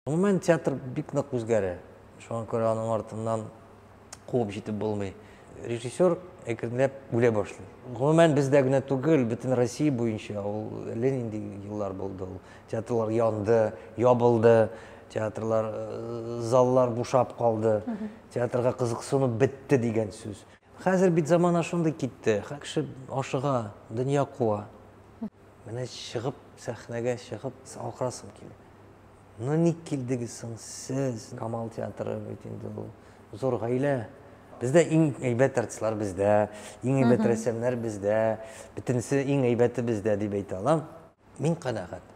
Гомумән, театр бик нык үзгәрә. Шуңа күрә аның артыннан куып җитеп булмый. Режиссер әкренләп үлә башлый. Гомумән, бездә генә түгел, бөтен Россия буенча ул әллә нинди еллар булды ул. Театрлар янды, ябылды, театрлар, э, заллар бушап калды, театрга кызыксыну бетте дигән сүз. Хәзер бит замана шундый китте. Хә- Кеше ашыга, дөнья куа. Менә чыгып, сәхнәгә чыгып, акырасым килә. Ну ник килдегез соң сез? Камал театры бит инде ул зур гаилә. Бездә иң әйбәт артистлар бездә, иң әйбәт рәссамнар бездә, бөтенесе иң әйбәте бездә дип әйтә алам. Мин канәгать.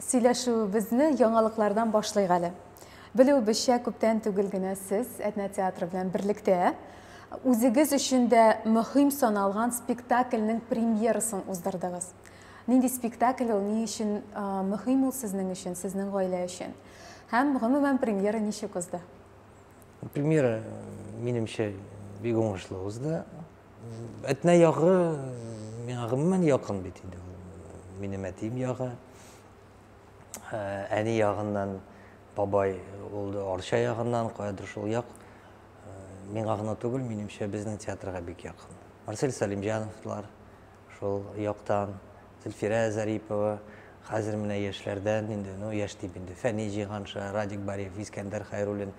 Сөйләшүебезне яңалыклардан башлыйк әле. Белүебезчә, күптән түгел генә сез Әтнә театры белән берлектә үзегез өчен дә мөһим саналган спектакльнең премьерасын уздырдыгыз. Нинди спектакль ул, ни өчен мөһим ул сезнең өчен, сезнең гаилә өчен? Һәм, гомумән, премьера ничек узды? Премьера, минемчә, бик уңышлы узды. Әтнә ягы миңа гомумән якын бит инде. Минем әтием ягы. Әни ягыннан бабай ул Арча ягыннан, каядыр шул як. Миңа гына түгел, минемчә безнең театрга бик якын. Марсель Салимҗановлар шул яктан, Зөлфирә Зарипова, хәзер менә яшьләрдән инде, ну яшь дип инде, Фәни Җиганша, Радик Бариев, Искәндәр Хайруллин,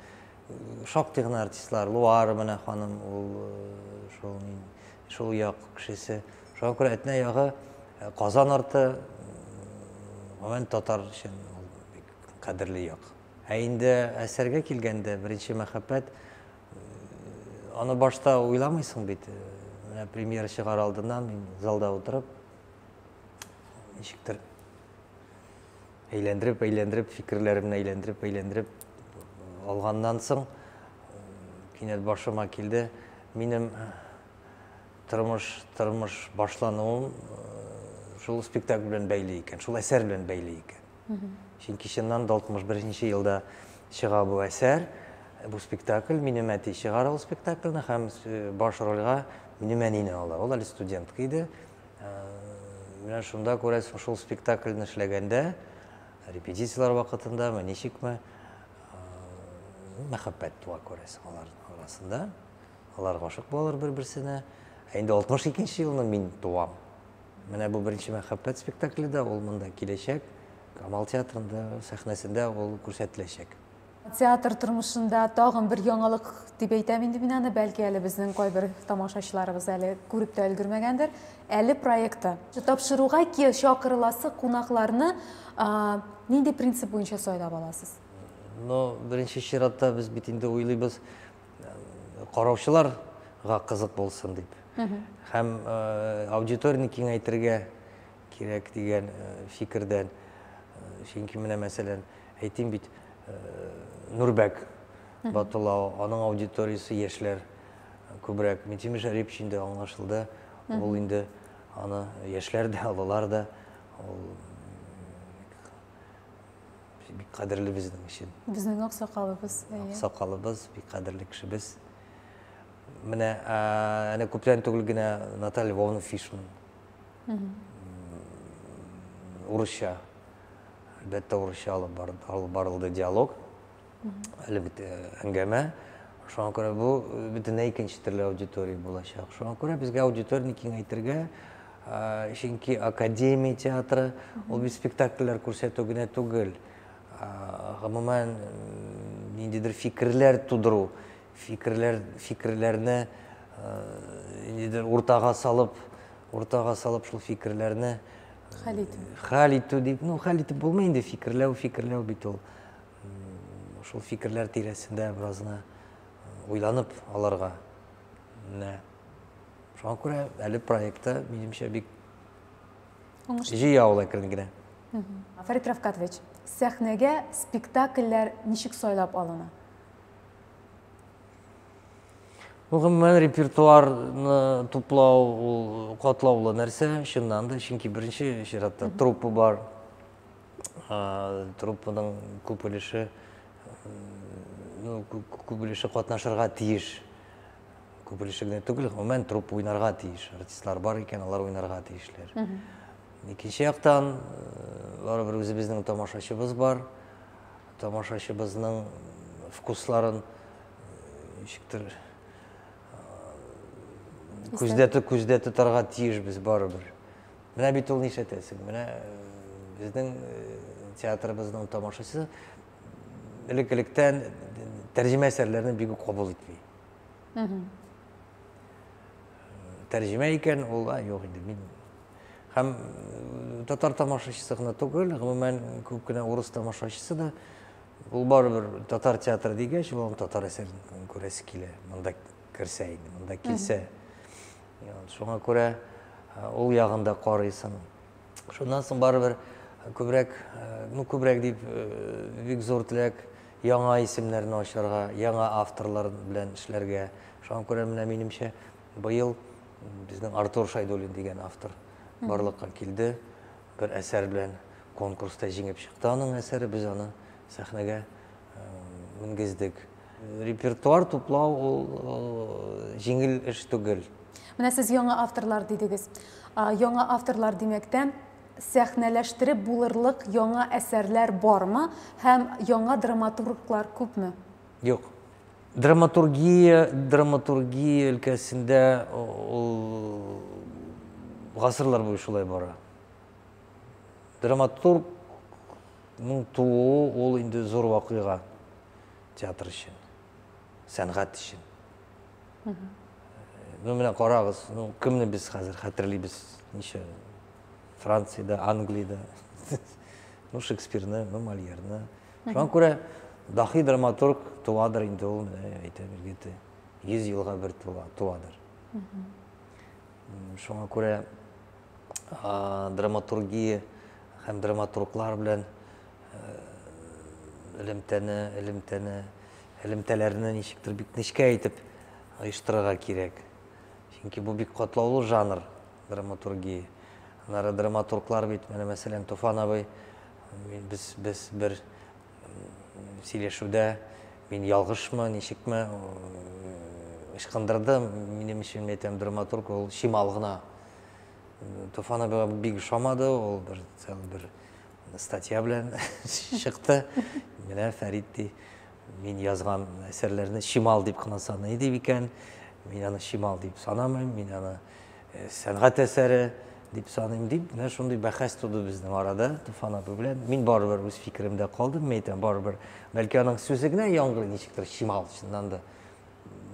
Шактый гына артистлар, Луар менә ханым, ул шул мин, шул як кешесе. Шуңа күрә Әтнә ягы, Казан арты, гомумән татар өчен ул бик кадерле як. Ә инде әсәргә килгәндә, беренче мәхәббәт, аны башта уйламыйсың бит. Менә премьера чыгар алдыннан мин залда утырып, ничектер Әйләндереп, әйләндереп, фикерләремне әйләндереп, әйләндереп алганнан соң, кинәт башыма килде, минем тормыш, тормыш башлануым шул спектакль белән бәйле икән, шул әсәр белән бәйле икән. Чөнки чыннан да 61-нче елда чыга бу әсәр, бу спектакль, минем әти чыгара ул спектакльне һәм баш рольгә минем әнине ала. Ул әле студентка иде, Менә шунда күрәсең, шул спектакльне эшләгәндә, репетицияләр вакытында, ме ничекме, мәхәббәт туа күрәсең алар арасында. Алар гашык булалар бер-берсенә. Ә инде 62 елны мин туам. Менә бу беренче мәхәббәт спектакле дә ул монда киләчәк. Камал театрында сәхнәсендә ул күрсәтеләчәк. Театр тормышында тагын бер яңалык дип әйтәм инде мин аны, бәлки әле безнең кайбер тамашачыларыбыз әле күреп тә өлгермәгәндер. Әле проекты. Тапшыруга чакырыласы кунакларны нинди принцип буенча сайлап аласыз? Ну, беренче чиратта без бит инде уйлыйбыз, караучыларга кызык булсын дип. Һәм аудиторияне киңәйтергә, кирәк дигән фикердән. Чөнки менә, мәсәлән, әйтим бит, Нурбәк Батулау, аның аудиториясе яшьләр күбрәк. Митимир Шәрипович инде аңлашылды, ул инде аны яшьләр дә, олылар да, ул бик кадерле безнең өчен. Безнең аксакалыбыз. Аксакалыбыз, бик кадерле кешебез. Менә, әнә күптән түгел генә Наталья Львовна Фишман урысча, әлбәттә, урысча алып барылды диалог, әлеге әңгәмә. Шуңа күрә бу бөтенләй икенче төрле аудитория булачак. Шуңа күрә безгә аудиторияне киңәйтергә, чөнки академия театры ул бит спектакльләр күрсәтү генә түгел, гомумән, ниндидер фикерләр тудыру, Фикерләр, фикерләрне нидер уртага салып, уртага салып шул фикерләрне хәл итү. Хәл итү дип, ну хәл итеп булмый инде, фикерләү, фикерләү бит ул. Шул фикерләр тирәсендә беразны уйланып аларга. Менә шуңа күрә әле проектта минемчә бик җыйы авыл әкрен генә. Фәрит Рафкатович, сәхнәгә спектакльләр ничек сайлап алына? Ну, гомумән репертуарны туплау ул катлаулы нәрсә, чыннан да, чөнки беренче чиратта труппа бар. Труппаның күп өлеше ну, күп өлеше катнашырга тиеш. Күп өлеше генә түгел, гомумән труппа уйнарга тиеш. Артистлар бар икән, алар уйнарга тиешләр. Икенче яктан, э, барыбер үзебезнең тамашачыбыз бар. Тамашачыбызның вкусларын ничектер күздә күздә тотарга тиешбез барыбер. Менә бит ул нишләтәсең. Менә безнең театрыбызның тамашачысы элек-электән тәрҗемә әсәрләрне бик үк кабул итми. Тәрҗемә икән, ул юк инде. Мин Һәм татар тамашачысы гына түгел, гомумән күп кенә урыс тамашачысы да ул барыбер татар театры дигәч, ул татар әсәрен күрәсе килә. Монда керсә инде, монда килсә. Шуңа күрә ул ягында карыйсың. Шуннан соң барыбер күбрәк, ну күбрәк дип бик зур теләк яңа исемнәрне ачарга, яңа авторлар белән эшләргә. Шуңа күрә менә минемчә быел Безнең Артур Шайдуллин дигән автор барлыкка килде. Бер әсәр белән конкурста җиңеп чыкты аның әсәре. Без аны сәхнәгә менгездек. Репертуар туплау ул җиңел эш түгел. Менә сез яңа авторлар дидегез. Яңа авторлар димәктән сәхнәләштереп булырлык яңа әсәрләр бармы һәм яңа драматурглар күпме? Юк. Драматургия, драматургия өлкәсендә ул гасырлар буе шулай бара. Драматургның тууы ул инде зур вакыйга театр өчен, сәнгать өчен. Ну, менә карагыз, ну, кемне без хәзер хәтерлибез, ничә Франциядә, Англиядә, ну, Шекспирны, ну, Мольерны. Шуңа күрә дахи драматург туадыр инде ул, менә әйтәм, егете 100 елга бер туадыр. Шуңа күрә драматургия һәм драматурглар белән элемтәне, элемтәне, элемтәләрне ничектер бик нечкә итеп оештырырга кирәк. Чөнки бу бик катлаулы жанр. драматургия. Аннары драматурглар бит, менә мәсәлән, Туфан абый, без, без бер сөйләшүдә мин ялгышмы, ничекме, ычкындырды, минем өчен, мин әйтәм, драматург ул чимал гына. Туфан абыйга бик ошамады, ул бер, бер статья белән чыкты. Менә Фәрит ди, мин язган әсәрләрне чимал дип кына саный дип икән. Мин аны чимал дип санамыйм, мин аны э, сәнгать әсәре дип саныйм дип менә шундый бәхәс туды безнең арада туфан абый белән мин барыбер үз фикеремдә калдым мин әйтәм барыбер бәлки аның сүзе генә яңгырый ничектер чимал чыннан да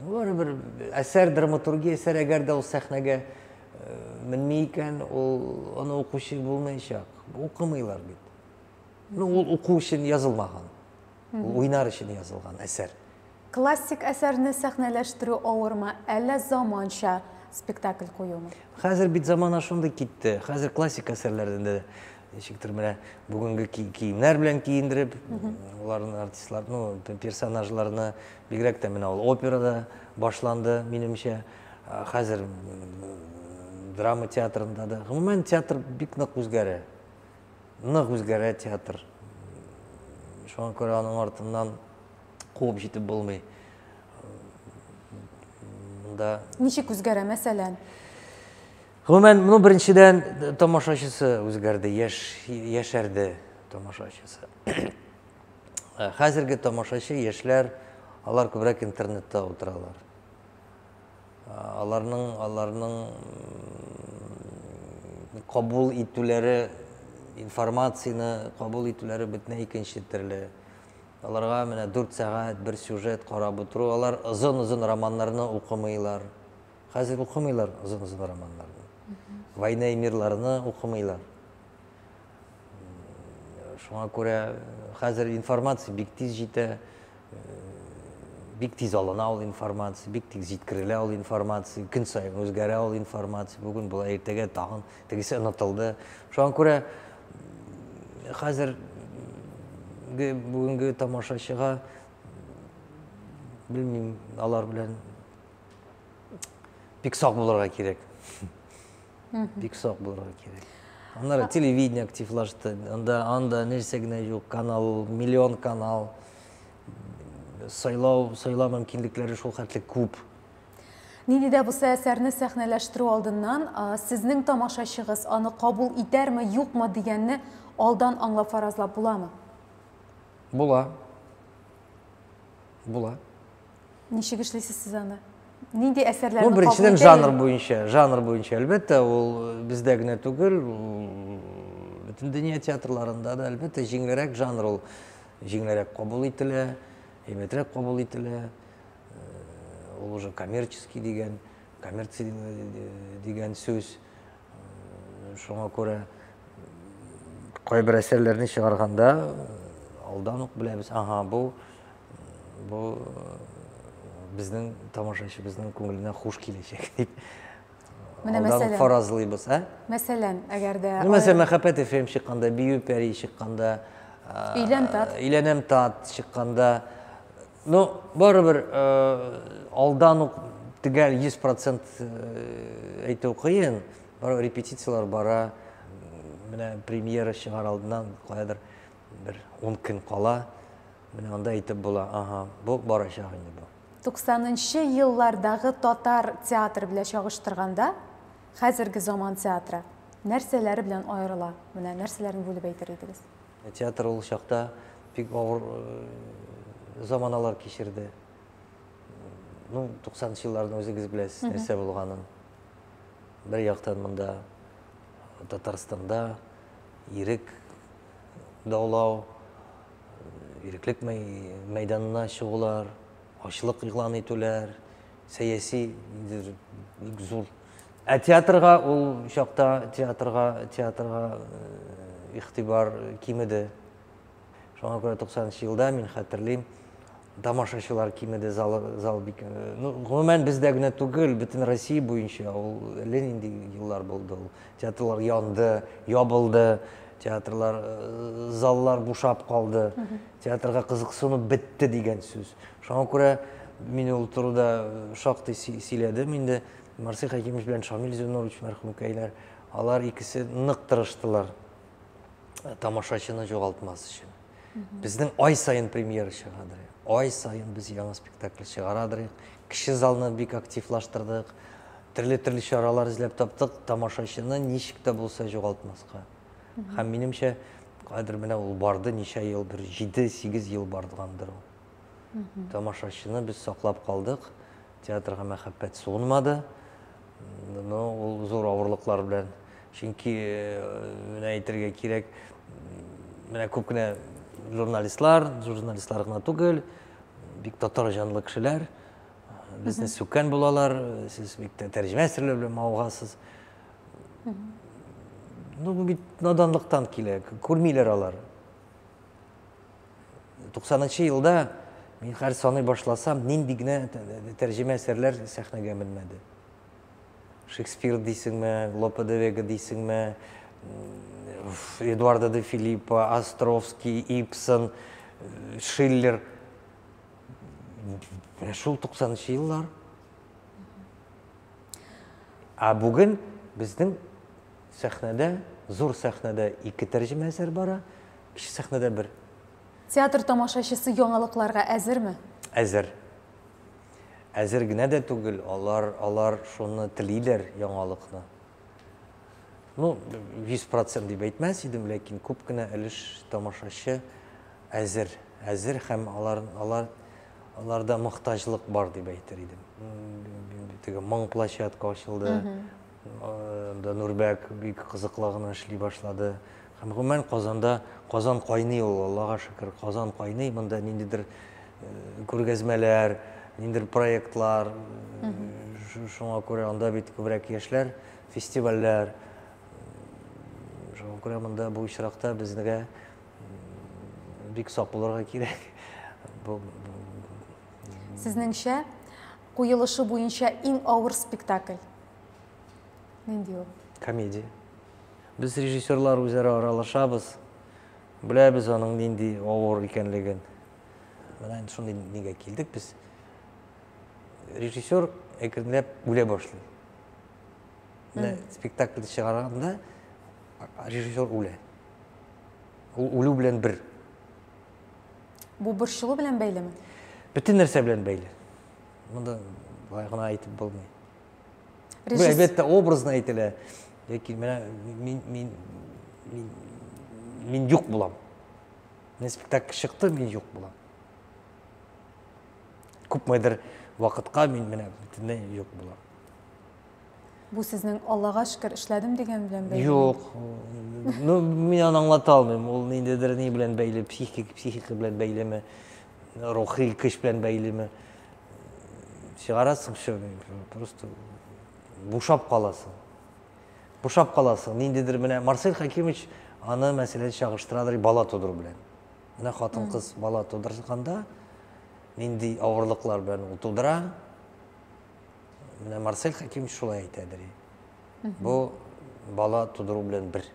барыбер әсәр драматургия әсәр әгәр дә ул сәхнәгә э, менми икән ул аны укучы булмаячак укымыйлар бит ну ул уку өчен язылмаган Ул уйнар өчен язылган әсәр. Классик әсәрне сәхнәләштерү авырмы, әллә заманча спектакль куюмы? Хәзер бит замана шундый китте. Хәзер классик әсәрләрдән дә ничектер менә бүгенге киемнәр белән киендереп, аларны артистлар, ну, персонажларны бигрәк тә менә ул операда башланды, минемчә. Хәзер драма театрында да, гомумән театр бик нык үзгәрә. Нык үзгәрә театр. Шуңа күрә аның артыннан куып җитеп булмый. Монда Ничек үзгәрә, мәсәлән? Гомумән, ну, беренчедән, тамашачысы үзгәрде, яшь, яшәрде тамашачысы. Хәзерге тамашачы, яшьләр, алар күбрәк интернетта утыралар. аларның аларның кабул итүләре информацияне кабул итүләре бөтенләй икенче төрле аларга менә дүрт сәгать бер сюжет карап утыру алар озын озын романнарны укымыйлар хәзер укымыйлар озын озын романнарны война и мирларны укымыйлар Шуңа күрә хәзер информация бик тиз җитә, бик тиз алына ул информация, бик тиз җиткерелә ул информация, көн саен үзгәрә ул информация, бүген болай, иртәгә тагын тегесе онытылды. Шуңа күрә хәзер бүгенге тамашачыга белмим, алар белән бик сак булырга кирәк. бик сак булырга кирәк аннары телевидение активлашты анда анда нәрсә генә юк канал миллион канал сайлау сайлау мөмкинлекләре шул хәтле күп нинди дә булса әсәрне сәхнәләштерү алдыннан сезнең тамашачыгыз аны кабул итәрме юкмы дигәнне алдан аңлап фаразлап буламы була була Ничек эшлисез сез аны? Нинди әсәрләрне ну, беренчедән жанр буенча, жанр буенча, әлбәттә, ул э, бездә генә түгел, бөтен дөнья театрларында да, әлбәттә, җиңелрәк жанр ул җиңелрәк кабул ителә, әйбәтрәк кабул ителә. Э, ул уже коммерческий дигән, коммерция э, дигән сүз. Шуңа күрә кайбер әсәрләрне чыгарганда алдан ук беләбез, ага, бу бу безнең тамашачыбызның күңеленә хуш киләчәк дип алдан фаразлыйбыз. Ә? Мәсәлән, әгәр дә ну, Мәсәлән, Мәхәббәт FM чыкканда, Бию пәри чыкканда, Өйлән тат. Өйләнәм тат чыкканда, ну, барыбер алдан ук төгәл 100% әйтү кыен. Барыбер репетицияләр бара. Менә премьера чыгар алдыннан каядыр бер 10 көн кала. Менә анда әйтеп була, аһа, бу барачак инде бу. Туксанынчы еллардагы татар театры белән чагыштырганда, хәзерге заман театры нәрсәләре белән аерыла? Менә нәрсәләрне бүлеп әйтер идегез? Театр ул чакта бик авыр заманалар кичерде. Ну, 90-нчы елларны үзегез беләсез, нәрсә булганын. Бер яктан монда Татарстанда ирек даулау, иреклек мәйданына чыгулар, ачлык игълан итүләр, сәяси ниндидер бик зур. Ә театрга ул чакта театрга театрга э, игътибар кимеде. Шуңа күрә 90 елда мин хәтерлим, тамашачылар кимеде, зал, зал бик... Э, ну, гомумән, бездә генә түгел, бөтен Россия буенча ул әллә нинди еллар булды ул. Театрлар янды, ябылды, театрлар, э, заллар бушап калды, театрга кызыксыну бетте дигән сүз. Шуңа күрә мин ул турыда э, шактый сөйләдем инде. Марсель Хәкимович белән Шамил Зюнович мәрхүмкәйләр, алар икесе нык тырыштылар тамашачыны жоғалтмас өчен. Безнең ай сайын премьера чыгадыр. Ай сайын без яңа спектакль чыгарадыр. Кеше залны бик активлаштырдык. Төрле-төрле чаралар эзләп таптык, тамашачыны ничек тә булса югалтмаска. Һәм минемчә, кадер менә ул барды, ничә елдыр, 7-8 ел бардгандыр ул. тамашачыны без саклап калдык, театрга мәхәббәт суынмады. Ну, ул зур авырлыклар белән. Чөнки менә әйтергә кирәк, менә күп кенә журналистлар, журналистлар гына түгел, бик татар җанлы кешеләр безне сүккән булалар, сез бик тә тәрҗемә серләр белән мавыгасыз. Ну, бу бит наданлыктан килә, күрмиләр алар. 90 нчы елда мин хәзер саный башласам, нинди генә тәрҗемә әсәрләр сәхнәгә менмәде. Шекспир дисеңме, Лопе де Вега дисеңме, Эдуардо де Филиппо, Островский, Ипсон, Шиллер. Менә шул 90 нчы еллар. А бүген безнең сәхнәдә, зур сәхнәдә ике тәрҗемә әсәр бара, Кече сәхнәдә бер. Театр тамашачысы яңалыкларга әзерме? Әзер. Әзер генә дә түгел, алар, алар шуны телиләр, яңалыкны. Ну, 100 процент дип әйтмәс идем, ләкин күп кенә өлеш тамашачы әзер. Әзер һәм алар, алар, аларда мохтаҗлык бар дип әйтер идем. Теге моң площадка ачылды, Анда Нурбәк бик кызыклы гына эшли башлады. Һәм гомумән Казанда Казан кайный ул, Аллага шөкер, Казан кайный. Монда ниндидер э, күргәзмәләр, ниндидер проектлар. Э, шуңа күрә анда бит күбрәк яшьләр, фестивальләр. Э, шуңа күрә монда бу очракта безгә бик сак булырга кирәк. Бу Сезнеңчә, куелышы буенча иң авыр спектакль Нинди ул? Комедия. Без режиссерлар үзара аралашабыз, беләбез аның нинди авыр икәнлеген. Менә инде шундый нигә килдек без. Режиссер әкренләп үлә башлый. Менә спектакльде чыгарганда режиссер үлә. Ул үлү белән бер. Бу борчылу белән бәйлеме? Бөтен нәрсә белән бәйле. Монда былай гына әйтеп булмый. Бу әлбәттә образно әйтелә. Яки менә мин мин мин мин юк булам. Менә спектакль чыкты, мин юк булам. Күпмедер вакытка мин менә бөтенләй юк булам. Бу сезнең Аллага шөкер эшләдем дигән белән бәйле. Юк. Ну, мин аны аңлата алмыйм. Ул ниндидер ни белән бәйле, психик, психика белән бәйлеме. Рухи көч белән бәйлеме? Чыгарасың шо, просто бушап каласың. Бушап каласың. Ниндидер менә Марсель Хакимович аны мәсәлән чагыштырадыр бала тудыру белән. Менә хатын-кыз бала тудырганда нинди авырлыклар белән ул тудыра. Менә Марсель Хакимович шулай әйтәдер. Бу бала тудыру белән бер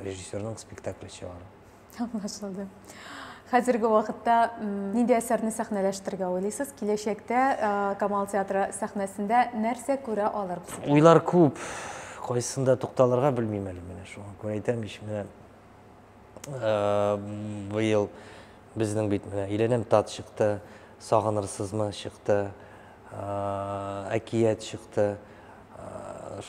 режиссерның спектакле чыгару. Аңлашылды. Хәзерге вакытта нинди әсәрне сәхнәләштерергә уйлыйсыз? Киләчәктә Камал театры сәхнәсендә нәрсә күрә алырбыз? Уйлар күп. Кайсында тукталырга белмим әле менә шуңа күрә әйтәм ич менә быел безнең бит менә Иләнәм тат чыкты, Сагынырсызмы чыкты, Әкият чыкты.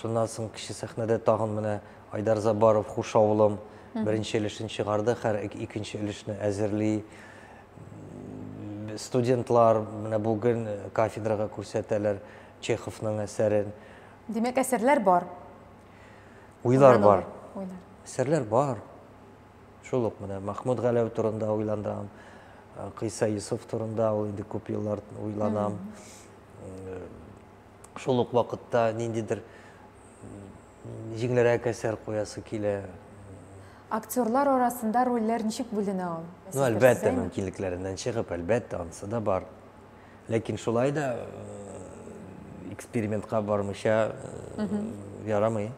Шуннан соң кече сәхнәдә тагын менә Айдар Забаров Хуш авылым беренче өлешен чыгарды, хәр икенче өлешне әзерли. Студентлар менә бүген кафедрага күрсәтәләр Чеховның әсәрен. Димәк, әсәрләр бар. Уйлар бар. Уйлар. Әсәрләр бар. Шул ук менә Махмуд Галәү турында уйландым. Кыйса Юсуф турында ул инде күп еллар уйланам. шул ук вакытта ниндидер җиңелрәк әсәр куясы килә. Актерлар арасында рольләр ничек бүленә ул? Ну, әлбәттә, мөмкинлекләреннән чыгып, әлбәттә, анысы да бар. Ләкин шулай да экспериментка бармыйча ярамый.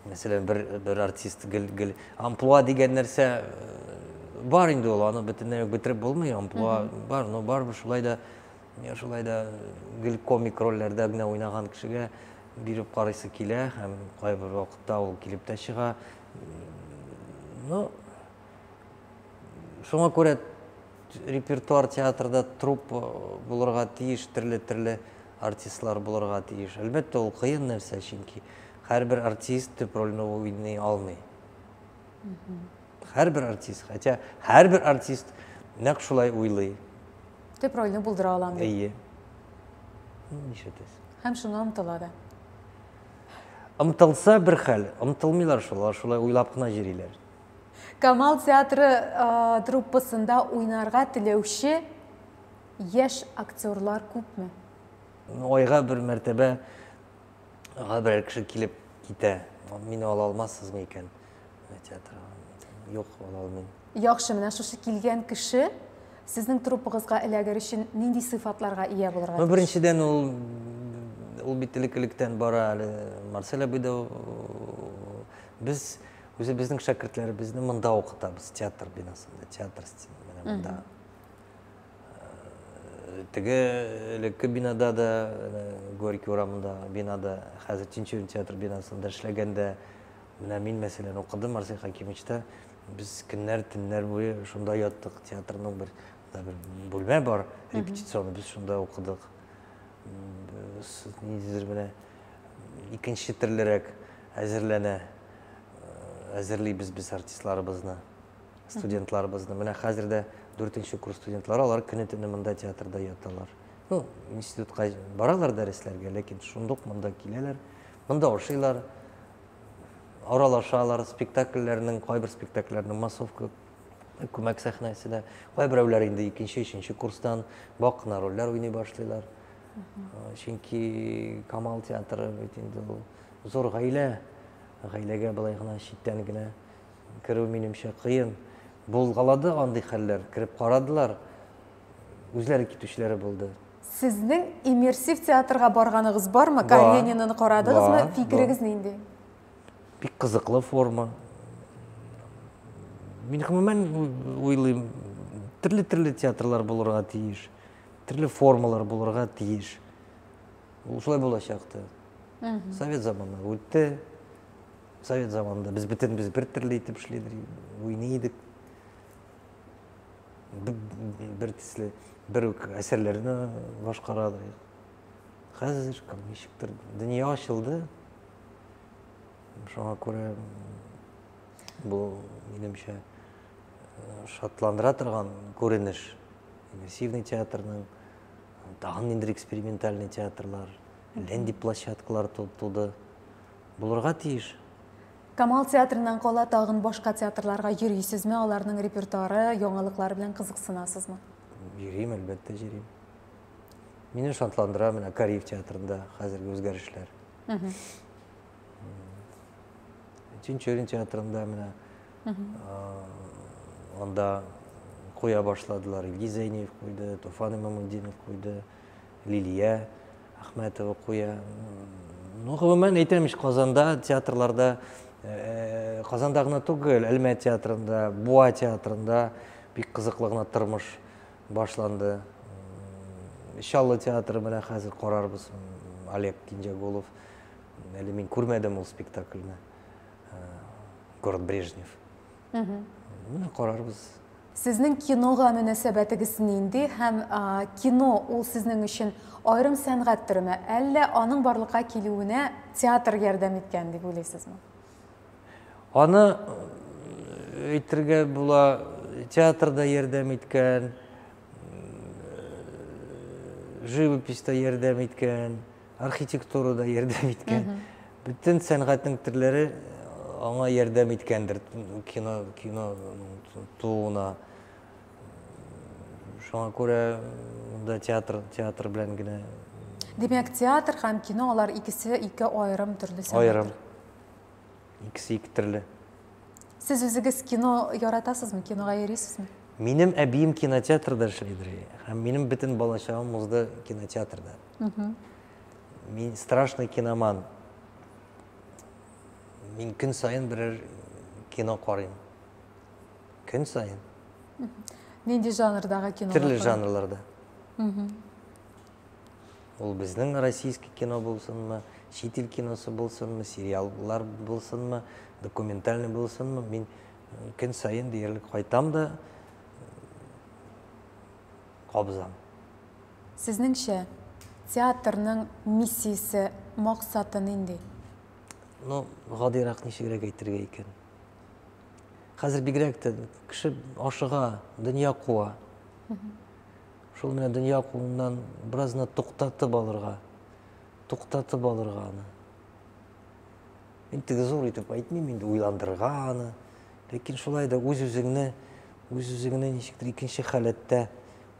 Мәсәлән, бер бер артист гел гел амплуа дигән нәрсә бар инде ул, аны бөтенләй үк бетереп булмый, амплуа бар, но барыбер шулай да Шулай да гел комик рольләрдә генә уйнаган кешегә биреп карыйсы килә һәм кайбер вакытта ул килеп тә чыга. Ну, шуңа күрә репертуар театрда труп булырга тиеш, төрле-төрле артистлар булырга тиеш. Әлбәттә, ул кыен нәрсә, чөнки һәрбер артист төп рольне уйный алмый. Һәрбер артист, хотя һәрбер артист нәкъ шулай уйлый. Төп рольне булдыра алам дип. Әйе. Нишләтәсез? Һәм шуңа омтыла да. Омтылса бер хәл, омтылмыйлар шул, шулай уйлап кына йөриләр. Камал театры а, труппасында уйнарга теләүче яшь актерлар күпме? Айга бер мәртәбә га берәр кеше килеп китә. Мине ала алмассызмы икән? Театр. Юк, ала алмыйм. Яхшы, менә шушы килгән кеше сезнең труппагызга эләгер өчен нинди сыйфатларга ия булырга тиеш? Ну, беренчедән ул ул бит элек-электән бара әле Марсель абый да без үзе безнең шәкертләребезне монда укытабыз, театр бинасында, театр стилендә монда. Теге элекке бинада да, Горький урамында бинада, хәзер Тинчурин театр бинасында эшләгәндә, менә мин, мәсәлән, укыдым Арсен Хакимовичта. Без көннәр, төннәр буе шунда яттык. Театрның бер, бер бүлмә бар, репетиционный, без шунда укыдык. Ниндидер менә икенче төрлерәк әзерләнә, әзерлибез без артистларыбызны. студентларыбызны. Менә хәзер дә дүртенче курс студентлары, алар көне-төне монда театрда яталар. Ну, институтка баралар дәресләргә, ләкин шундук монда киләләр, монда ошыйлар, аралашалар, спектакльләрнең, кайбер спектакльләрнең массовка күмәк сәхнәсенә, кайберәүләр инде икенче, өченче курстан бак кына рольләр уйный башлыйлар. Чөнки Камал театры бит инде ул зур гаилә, гаиләгә былай гына читтән генә Керү, минемчә, кыен. Булгалады андый хәлләр. Кереп карадылар, үзләре китүчеләре булды. Сезнең иммерсив театрга барганыгыз бармы? Карениныны карадыгызмы? Фикерегез нинди? Бик кызыклы форма. Мин гомумән уйлыйм, төрле-төрле театрлар булырга тиеш, төрле формалар булырга тиеш. Ул шулай булачак та. Совет заманы үтте, Совет заманында без бөтенебез бер төрле итеп эшли идек, уйный идек. Бер төсле, бер үк әсәрләрне башкара идек. Хәзер кем ничектер дөнья ачылды. Шуңа күрә бу минемчә шатландыра торган күренеш. Иммерсивный театрның тагын ниндидер экспериментальный театрлар, ләнди площадкалар туды. Булырга тиеш. Камал театрыннан кала тагын башка театрларга йөрисезме, аларның репертуары, яңалыклары белән кызыксынасызмы? Йөрим, әлбәттә йөрим. Мине шатландыра менә Кариев театрында хәзерге үзгәрешләр. Чинчурин театрында менә анда куя башладылар. Илгиз Зәйниев куйды, Туфан Имамутдинов куйды. Лилия Әхмәтова куя. Ну, гомумән әйтәм ич, Казанда театрларда, э, Казанда гына түгел, Әлмә театрында, Буа театрында бик кызыклы гына тормыш башланды. Чаллы театры менә хәзер карарбыз. Олег Кинҗәгулов. Әле мин күрмәдем ул спектакльне. Э, Город Брежнев. Менә карарбыз. Сезнең кинога мөнәсәбәтегез нинди һәм кино ул сезнең өчен аерым сәнгать төреме, әллә аның барлыкка килүенә театр ярдәм иткән дип уйлыйсызмы? Аны әйтергә була, театр да ярдәм иткән, живопись та ярдәм иткән. Архитектура да ярдәм иткән. Бөтен сәнгатьнең төрләре э, аңа ярдәм иткәндер кино кино тууына. Шуңа күрә монда театр театр белән генә Димәк, театр һәм кино алар икесе ике аерым төрле сәнгать. Аерым. Икесе ике төрле. Сез үзегез кино яратасызмы? Кинога йөрисезме? Минем әбием кинотеатрда эшләйдер. Һәм минем бөтен балачагым узды кинотеатрда. Мин страшный киноман. Мин көн сайын берәр кино карыйм. Көн сайын. Нинди жанрдагы кино? Төрле жанрларда. Ул безнең российский кино булсынмы, чит ил киносы булсынмы, сериаллар булсынмы, документальный булсынмы, мин көн сайын диярлек кайтам да кабызам Сезнеңчә, театрның миссиясе, максаты нинди? Ну, гадыйрак ничегрәк әйтергә икән? Хәзер бигрәк тә кеше ашыга, дөнья куа. Шул менә дөнья кууннан беразны туктатып алырга, туктатып алырга аны. Мин теге зур итеп әйтмим инде уйландырырга аны. Ләкин шулай да үз-үзеңне, үз-үзеңне ничектер икенче халәттә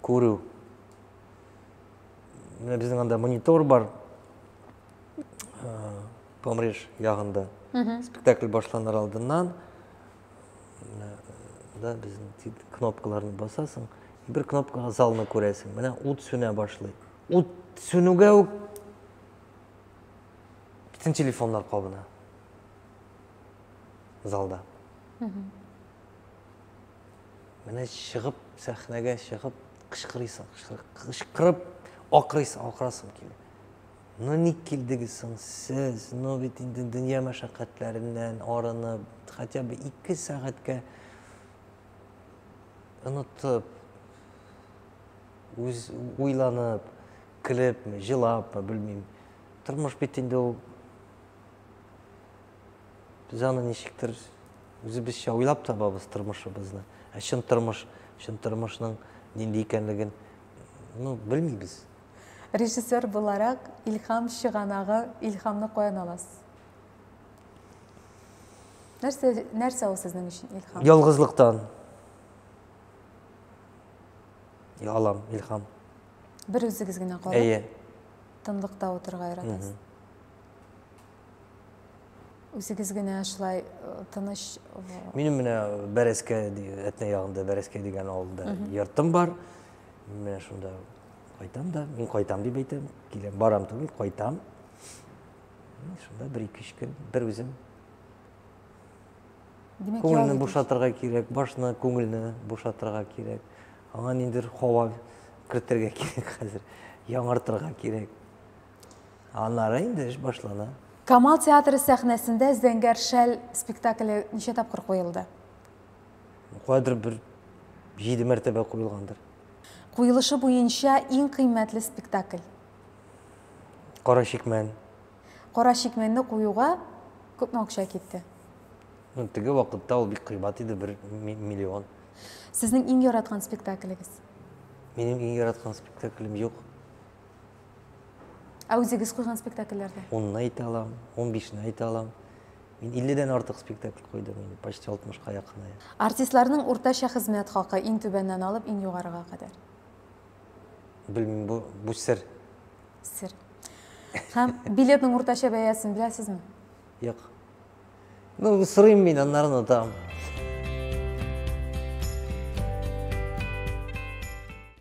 күрү. Менә безнең анда монитор бар, Помреш ягында. Спектакль башланыр алдыннан да безнең кнопкаларны басасың, бер кнопкага залны күрәсең. Менә ут сүнә башлый. Ут сүнүгә үк бөтен телефоннар кабына залда. Менә чыгып, сәхнәгә чыгып, кычкырыйсың, кычкырып, акырыйсың, акырасың килеп. Ну ник килдегез соң сез? Ну бит инде дөнья мәшәкатьләреннән арынып, хотя бы 2 сәгатькә онытып, үз уйланып, көлепме, җылапмы, белмим. Тормыш бит инде ул Без аны ничектер үзебезчә уйлап табабыз тормышыбызны. Ә чын тормыш, чын тормышның нинди икәнлеген ну, белмибез. Режиссер буларак илһам чыганагы, илһамны каян аласыз? Нәрсә, нәрсә ул сезнең өчен илһам? Ялгызлыктан. Я алам илһам. Бер үзегез генә калып. Әйе. Тынлыкта утырга яратасыз. Үзегез генә шулай э, тыныч Минем менә Бәрәскә әтнә ягында Бәрәскә дигән авылда йортым бар. Мин менә шунда кайтам да, мин кайтам дип әйтәм, киләм, барам түгел, кайтам. Шунда бер ике өч көн бер үзем. Димәк, күңелне бушатырга кирәк, башны, күңелне бушатырга кирәк. Аңа ниндер һава кертергә кирәк хәзер, яңартырга кирәк. Аннары инде эш башлана. Камал театры сәхнәсендә Зәңгәр шәл спектакле ничә тапкыр куелды? Кадр бер җиде мәртәбә куелгандыр. Куелышы буенча иң кыйммәтле спектакль? Кара чикмән. Кара чикмәнне куюга күпме акча китте? Теге вакытта ул бик кыйбат иде, бер миллион. Сезнең иң яраткан спектаклегез? Минем иң яраткан спектаклем юк. Ә үзегез куйган спектакльләрдә? Унны әйтә алам, ун бишне әйтә алам. Мин 50-дән артык спектакль куйдым, инде почти 60-ка якыная. Артистларның уртача хезмәт хакы иң түбәннән алып иң югарыга кадәр. Белмим, бу бу сер. Сер. Һәм билетның уртача бәясен беләсезме? Юк. Ну, сырыйм мин, аннары онытам.